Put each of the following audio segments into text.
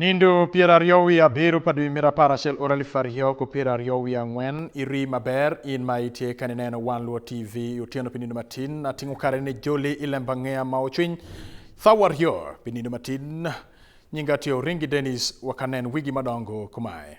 Nindo piero ariyo wiye abiro pa dwe mira apar achiel ora elfu ariyo ku piero ariyo wiye ang'wen iri maber in ma itye ka nineno wan luo tv otieno pi nindo matin atingo kare ni joli ilemba ng'eya ma ocwiny thawa ariyo pi nindo matin nyinga tye oringi denis wakanen wigi madongo kumae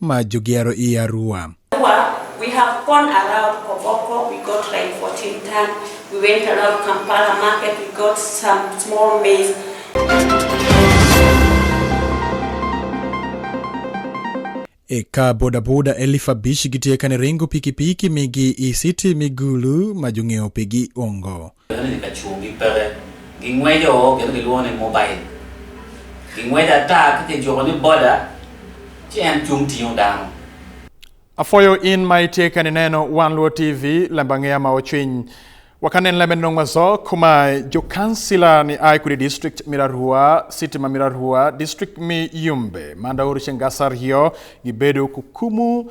ma jogero i Arua. We have gone around Koboko, we got like 14 ton. We went around Kampala market, we got some small maize. Eka bodaboda elif abich gitye ka niringo pikipiki migi i city Migulu ma jong'iewo pigi ongo. Kendo ni ka chung' gi peke, gingwejo kendo giluongo ni mobile. Gingwejo ata ki kijuko ni boda, ci en cung tingo dano. Afoyo in ma itye ka nineno Wan Luo TV, lemba ngeya ma ocwiny. Wakanen lembe nong mazo kuma jo kansila ni ai kudi district mirarua city ma mirarua district mi yumbe manda oru chengasar hiyo gibedo kukumu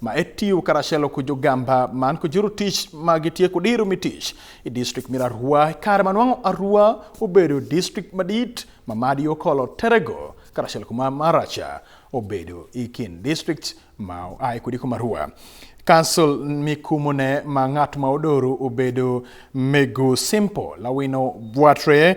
ma e tiyo karachiel kod jogamba man kod juru tich ma gitieko diro mi tich e distrikt mir Arua e kare manwang'o Arua obedo distrikt madit ma madi okolo terego karachiel kuma maracha obedo e kind distrikt ma oa e kudi kuma Arua Kansul mikumone ma ng'at ma odoro obedo Megu Simple Lawino Bwatre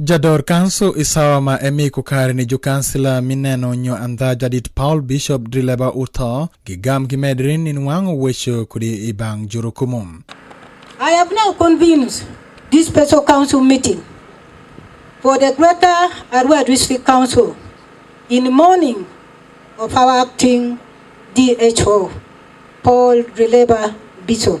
Jador kanso isawa ma emi kukare ni jukansila mineno nyo andha jadit Paul Bishop Drileba utho gi gam gi medrin ni nwang'o wecho kudi i bang jurukumu. I have now convened this special council meeting for the Greater Arua District Council in mourning of our acting DHO Paul Drileba Bishop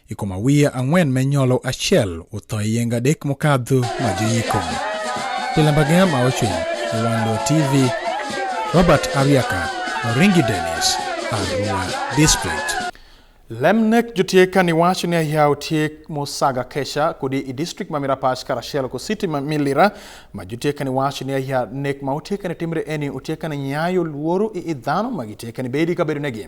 ikoma wiye ang'wen me nyolo achiel utho e yeng adek mokadho ma joyiko lilambagea ma ochwiny iwanlo tv robert ariaka oringi denis arua district lemnek jotieka ni wacho ni ayaw tiek mosaga kesha kodi i district ma mirapash karachiel ko city ma milira ma jotieka ni wacho ni aya nek ma otieka ni timre eni otieka ni nyayo luoro i idhano ma gitieka ni bedi ka bedo negi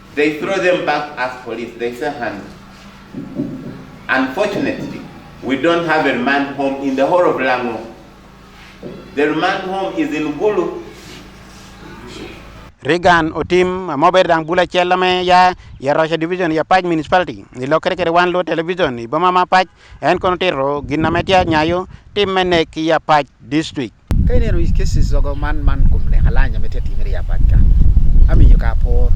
They throw them back as police. They say hand. Unfortunately, we don't have a remand home in the whole of Lango. The remand home is in Gulu. Regan Otim, a mobile dan bula chelame ya ya Russia division ya Paj municipality. Ni lo kere kere wan lo television ni bama ma Paj en kono tero ginametia nyayo tim menek ya Paj district. Ka ineno cases ogo man man kuom ne halanya mete timre ya patka. Aminyo ka por.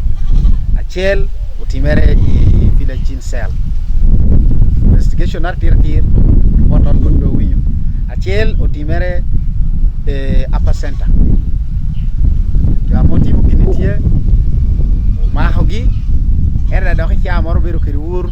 Achiel otimere e village chin cell. Investigation ar tir tir report on kod winyo. Achiel otimere e upper center. Ja motivo kinitie mahogi era dok ichamo moro biro kiri ur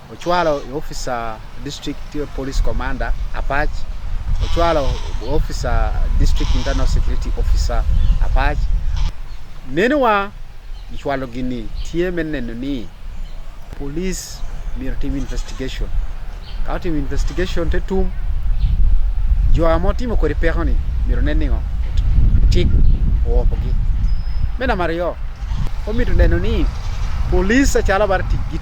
Ochwalo officer district police commander Apach Ochwalo officer district internal security officer Apach menwa ichwalo gini tie meneno ni police mir tim investigation ka tim investigation te tum jo amo timo kori peko ni miro ne ningo tik opo gi mena mario omito neno ni police achalo bar tik git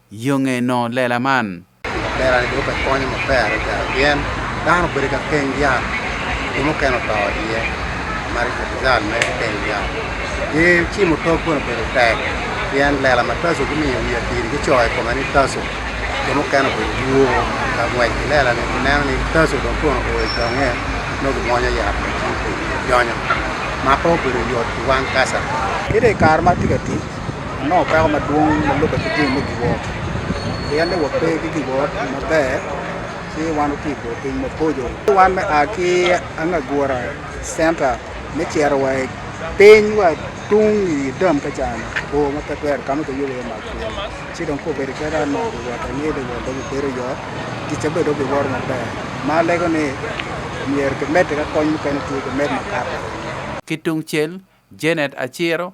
Yo ngeno lela man. Lela ni dwoko e konyo maber adada pien dano obedo ka keng yat jo mukene oto iye mar rizal me keng yat ki cimo tok kono obedo tek pien lela ma taso gimiyo wiye tiri gicoyo kome ni taso jo mukene obedo duo ka ngwec ki lela ni gineno ni taso dong kono oyo donge no gimwonyo yat ma cimo jonyo ma pe obedo yot ki wang kasa kede kare ma tye ka tic Ango peko madwong ma lube ki tim me giwot? Pien ni wape ki giwot maber ci wan oti go piny mapojo. Wan me a ki Angagura Center me cero wa i piny wa tung i dam ka can o ma pe twero kama ka yubo ma ku ci don ko bedo kera no wa ta ni de wa do bedo yo ki ce bedo bi wor ma ber ma lego ni mier ke mete ka kony ka ni tu ke met ma kata Ki tungcel, Janet Aciro,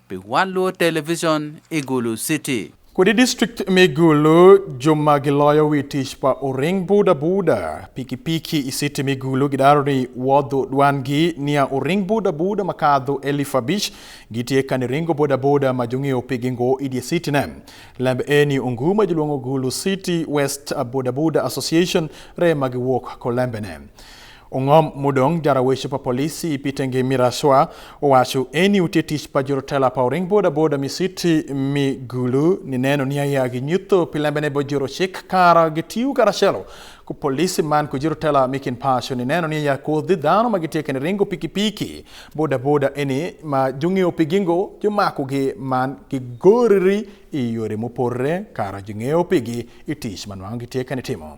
Be Wallo Television, Igulu City. Kwede district me Gulu joma giloyo wi tich pa oring buda buda pikipiki i city me Gulu gidaro ni wodho dwangi niya oring buda buda makadho elif abich gitye ka ni ringo boda boda ma jong'eyo pigi ngo i dye city ne lembe eni ongu ma jilwongo Gulu City West Boda Boda Association re ma giwuok kolembene Ong'om mudong jara weche pa polisi ipite ngi miraswa owacho eni utie tich pa jorotela pa oring boda boda misiti mi gulu ni neno ni aya gi nyutho pilembe ne bojoro chik kara gi tiu kara chelo ku polisi man ku jorotela mi kin pacho ni neno ni aya kodhi dhano ma gitie kene ringo piki piki boda boda eni ma jung'eyo pigingo jumako gi man gi goriri i yore mopore kara jung'eyo pigi i tich manwango gitie kene timo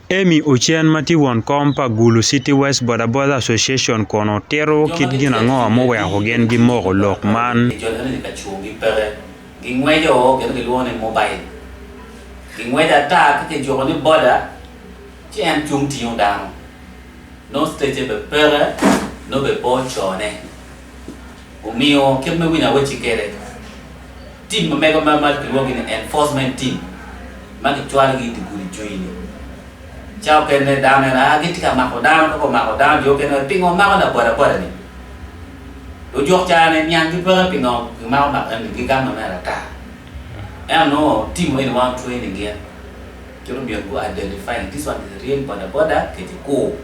Amy Ochen ma tye won kom pa Gulu City West Bodaboda Association kono tito kit gin ango ma oweko gin gimoko lok man. Gingweco kit gilwongo ni mobil. Gingweco ata ki kijuko ni boda ci en cung tingo dano. No stece be peke, no be po cone. Omiyo kit me winyo awechi kere, tim ma mego ma mal kilwogi ni enforcement team ma gicwalgi iti gudi cwiny. Ca okene dano en a giti ka mako dano koko mako dano jo okene pingo mako na boda boda ni. Ojok cane niang ki peke pingo gimako mako ni gigamo me rata. En no tim weni wan training gi en. Coro miyo go identifying this one is real boda boda kiti kuu.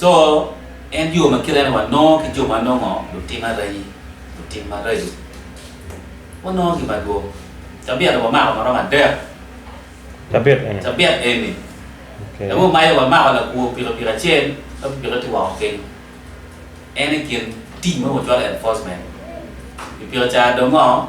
Co en yo ma kite ni wanongo ki jo ma nongo lutim arayi lutim marayo wanongo ki madwong cabit wamako marom adek Cabit eni. cabit eni Okay. Lamu mayo wa mako la kuo piro piro achiel la piro ti wa oke. En e kin team mo chwal enforcement. Piro cha dongo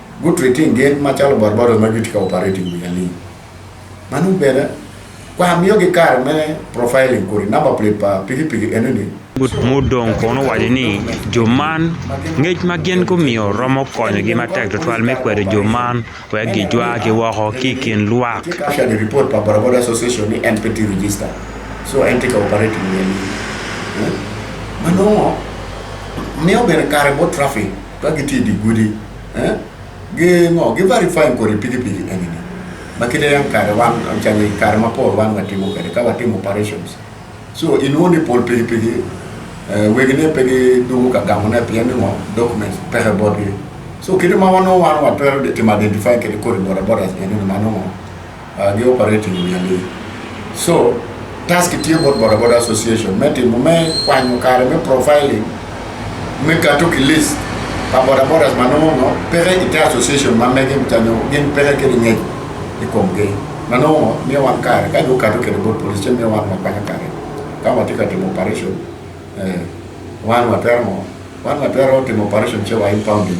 Good treating gin machalo barbaros ma gitika operating with a link. Manu bere kwa miyo gi kar me profiling kuri number plate pa pigi pigi enini. Mudong kono wacho ni jo man ngec ma gin gumiyo romo konyogi matek tutwal me kwedo jo man wek gijwa ki woko ki i kin lwak. Actually report pa Barabara Association ni en peti register. So en tika operating with a link. Manu miyo bere kare bo traffic. ka gitiyo gi gudi eh, gi ng'o gi verify kore pikipiki en ni ma kinde yang kare wan chani kare ma pol wan watimo kare ka watimo operations so in woni pol pikipiki eh, wegine pe gi dugu ka gamo ne pien ni ng'o documents pehe bodgi so kinde ma wano wan watwero timo identify kede kore boda bodas en ni mano ng'o Uh, gi operate ni nyali. So, task tiyo bot boda boda association me timo me kwanyo kare me profiling me kato ki list pa boda bodas ma nomo no pere ite association ma mege mtanyo gin pere ke ni ngej i kom ge ma nomo mi wan kare ka jo kato ke bot police che mi wan ma kwanyo kare ka wa tika timo operation eh wan wa termo wan wa termo timo operation che wa impounding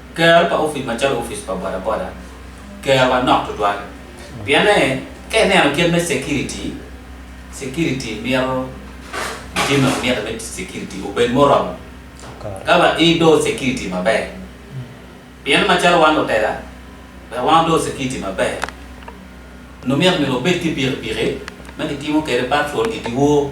Ker pa ofis macalo ofis pa bodaboda kerwa nok tutwal pienne ka ineno kit me security security mito jimi mito me security obed moromo ka ba ido security maber pien macalo wan lutela be wan do security maber numit mito obed ki pikipiki ma kitimo kede patrol i diwo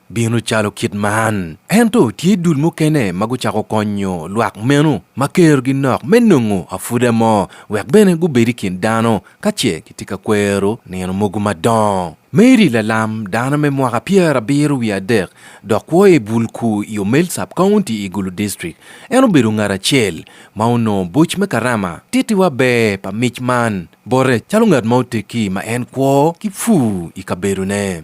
bino calo kit man. Ento tye dul mukene ma gucako konyo lwak meno ma kerogi nok me nongo afuda mo wek bene gubed i kin dano ka ce gitye ka kwero nino mogo madongo. Mary lalam dano me mwaka pyerabiro wiye adek dok kwo i Bulku i Omel Sub County i Gulu District. En obedo ngat acel ma onongo buc me Karama. Tittiwa ber pa mic man bote calo ngat ma oteggi ma en kwo ki pur i kabedone.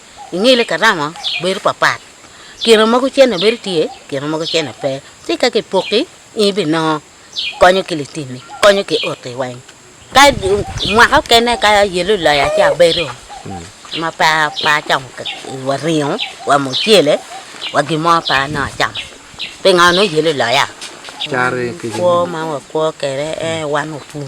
Ingili karama bedo papat. Kino mogo cene bedo tye, kino mogo cene pe. Ci ka kipoki, in ibinongo konyo ki litini, konyo ki oti weng. Ka mwaka okene ka yelo loya ci abedo ma pe pe acamo wa ringo, wa mucele, wa gin mo pe anongo acamo. Pingo nongo yelo loya? Cari kicin. Kwo ma wakwo kwede en wan opur.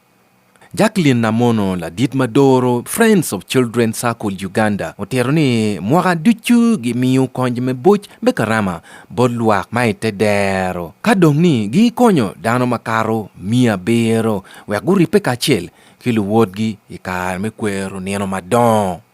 Jacqueline Namono ladit ma doro Friends of Children Circle Uganda otero ni mwaka ducu gimiyo kony me buc me karama bot lwak ma i te dero ka dong ni gikonyo dano makato miya abiro wek guripe kacel ki luwotgi i kare me kwero nino madongo.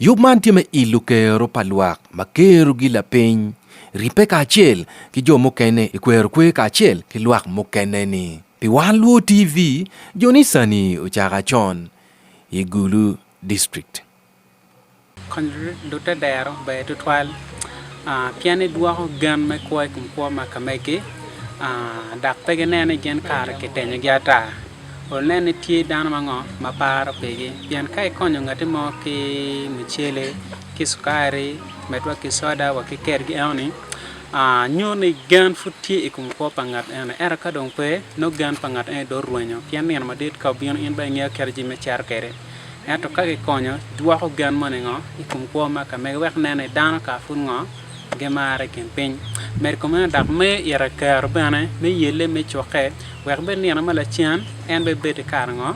Yub man tye me ilo kero pa lwak ma kerogi lapiny, ribbe kacel ki jo mukene i kwero kwe kacel ki lwak mukene-ni. Pi Wan Luo TV, joni sani ocako acon i Gulu District. Kony lute dero ber tutwal pien edwoko gen me kwo i kom kwo ma ka megi, dok pe gineno ni gin kare kitenyogi ata. One ni tye dano mango ma paro pigi. Pien ka ikonyo ngati mo ki mucele, ki sukari, med wa ki soda wa ki kergi eno ni, ah, nyo ni gen pud tye i kom kwo pa ngat eno. Ento ka dong pe, no gen pa ngat eno do rwenyo. Pien nino madit ka obino in ba ingeyo kero jami me cero kede. Ento ka kikonyo, dwoko gen mo ni ngo i kom kwo ma ka mege wek nen ni dano ka pud ngo. gimare kin piny. Med kome na dak me ira kero bene me yelle me coke wek bed nino ma lacen en be bed kar ngo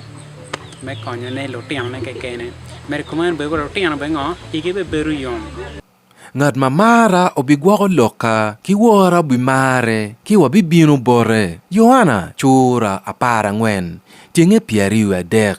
me konyo ne lutino ne kekene. Med kome na bego lutino be ngo igi be bedo yom. Ngat ma mara obigwoko lokka, ki wora obimare, ki wabibino bote. Yohana cura apar angwen, tyenge pyeriyo adek.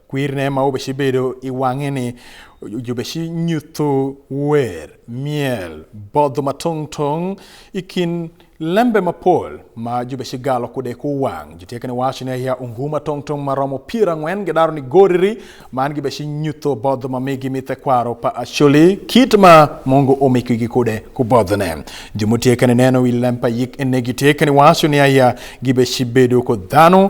Kwirne ma ubeshi bedo i wange ni ubeshi nyutu wer, myel, bodho ma tong tong i kin lembe mapol ma jubeshi galo kude ku wang. Jutyekene waco ni aya ungu ma tong tong ma romo pier angwen gidaro ni goriri man gibeshi nyutu bodho ma migi mi thekwaro pa Acholi kit ma mungu omikigi kude ku bodho ne. Jumutyekene neno i lempa yik ene gityekene waco ni aya gibeshi bedo ku dhanu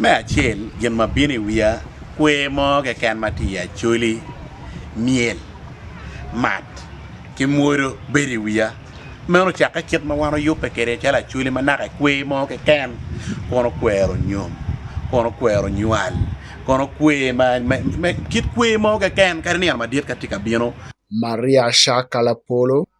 Me acel gin ma bino i wiya kwe mo keken ma tye i acoli myel mat ki mwodo bedo i wiya meno ocakke kit ma wan oyubbe kwede calo acoli ma naka kwe mo keken kun okwero nyom kun okwero nywal kun okwe kit kwe mo keken kadi nino madit ka tye ka bino. Maria Shaka Lapolo.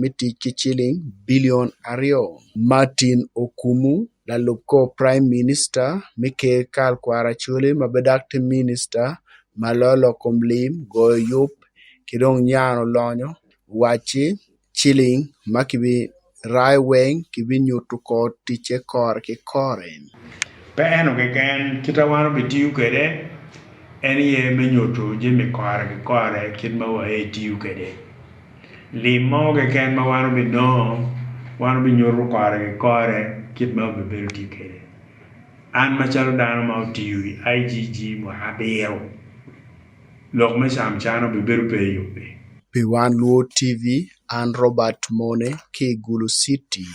me tic ki ciling bilion aryo. Martin Okumu, lalub kor Prime Minister me Ker Karl Kwara Coli ma bedak tye Minista ma lolo kom lim, goyo yub ki dong nyano lonyo wacci ciling ma kibi rai weng kibinyuto kor ticce kore ki kore. Pe eno keken, kit ma wan obitiyo kwede en aye me nyuto jami kore ki kore kit ma wa aye etiyo kwede. Lim mo keken ma wan obidongo, wan obinyuto kore ki kore kit ma wabibedo tye kwede. An macalo dano ma otiyo i IGG mwaka abiro, lok me camcana obibedo pe i yubbe. Pi wan Luo TV, an Robert Mone ki i Gulu City.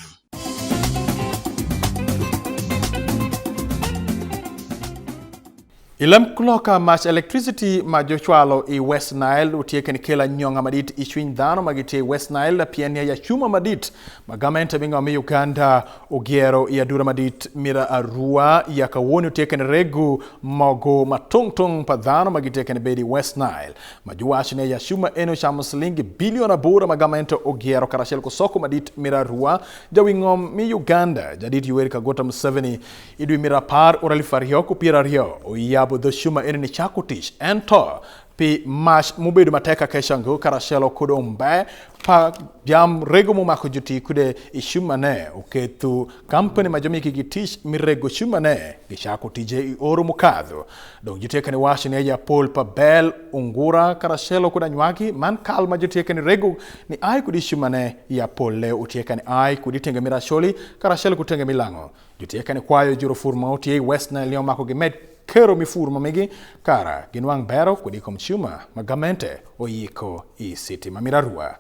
Ilam kuloka mach electricity ma jochwalo i West Nile utieke ni kela nyonga madit i chwiny dhano ma gitye i West Nile pien ya yachuma madit ma gamente bingo mi Uganda ogiero i adura madit mira arua ya kawoni utieke ni regu mogo ma tung tung pa dhano ma gitieke ni bedi i West Nile ma giwacho ni yachuma en ochamo silingi bilion aboro ma gamente ogiero karachiel ku soko madit mira arua jawingom mi Uganda jadit Yoweri Kaguta Museveni E dwe mar apar ura aluf ariyo kod piero ariyo, oyabo dho Shuma ene ni chako tich. En to pi mach mobedo matek kaka shango karashelo kod ombe pa jam rego momako joti kude i shumane oketho kampani ma jomiki gi tich mirego shumane gichako tije i oro mokadho dong jotiekani wacho ni aja pol pa bel ungura karashelo kod anywaki man kal ma jotiekani rego ni ai kod i shumane ya pol le otiekani ai kod itenge mirasholi karashelo kod tenge milang'o Jotye kene kwayo juro fur ma otye i West Nile ni omako gimed kero mi fur ma migi kara ginwang bero kodi i kom cuma ma gamente oyiko i city ma Mirarua.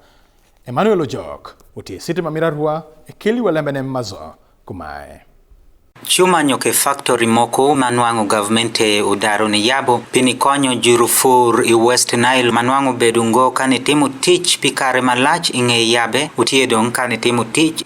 Emmanuel Ojok otye i city ma Mirarua e keli wa lembene mazo kumae. Cuma nyo ke faktori moko ma nwango gavmente odaro ni yabo pi nikonyo juro fur i West Nile ma nwango bedo ngo ka nitimo tic pi kare malac i nge yabe otye dong ka nitimo tic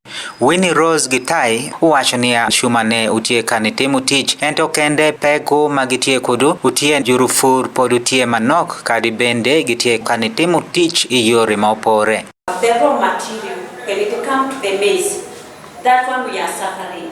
Winnie Rose Gitai uwacho niya chuma ne utie ka nitimo tich ento kende peko ma gitie kudu utie jurufur pod utie manok kadi bende gitie ka nitimo tich e yore ma opore. The raw material, when it comes to the maize, that one we are suffering.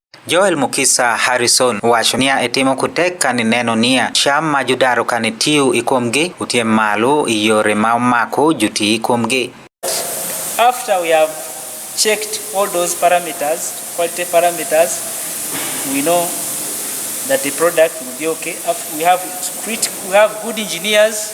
Joel Mukisa Harrison wacho niya, itimo kutek ka nineno niya, cham ma judaro ka nitiyo ikomgi, utiem malo iyore ma omako juti ikomgi. After we have checked all those parameters, quality parameters, we know that the product will be okay. We have, we have good engineers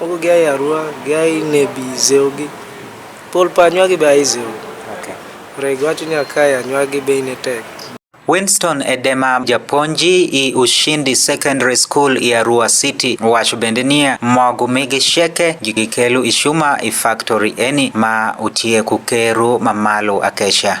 Moko gia e Arua, gia e Nebi, Zeogi. Pol pa anywagi be a e Zeogi. Okay. Rego wacho ni akae anywagi be ine tek. Winston Edema japonji i Ushindi Secondary School i Arua City wacho bende niya mogu migi sheke gikelu ishuma i factory eni ma utye ku keru mamalo akeca.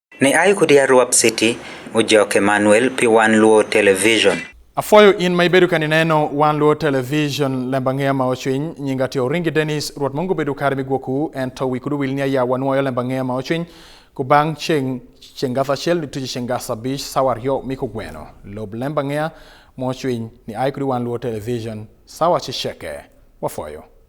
Ne ai kodi Arwap City, Ujok Emmanuel, pi One Luo Television. Afoyo in ma ibedo kani neno One Luo Television lemba ng'eya ma ochwiny nyinga tiyo ringi Dennis ruot mongo bedo kare migwoku en to wikudu wil ni aya wanwoyo lemba ng'eya ma ochwiny ku bang' cheng cheng gasa chel ni tuji cheng gasa bish sawa ryo miko gweno lob lemba ng'eya ma ochwiny ni ai kudi One Luo Television sawa chicheke wafoyo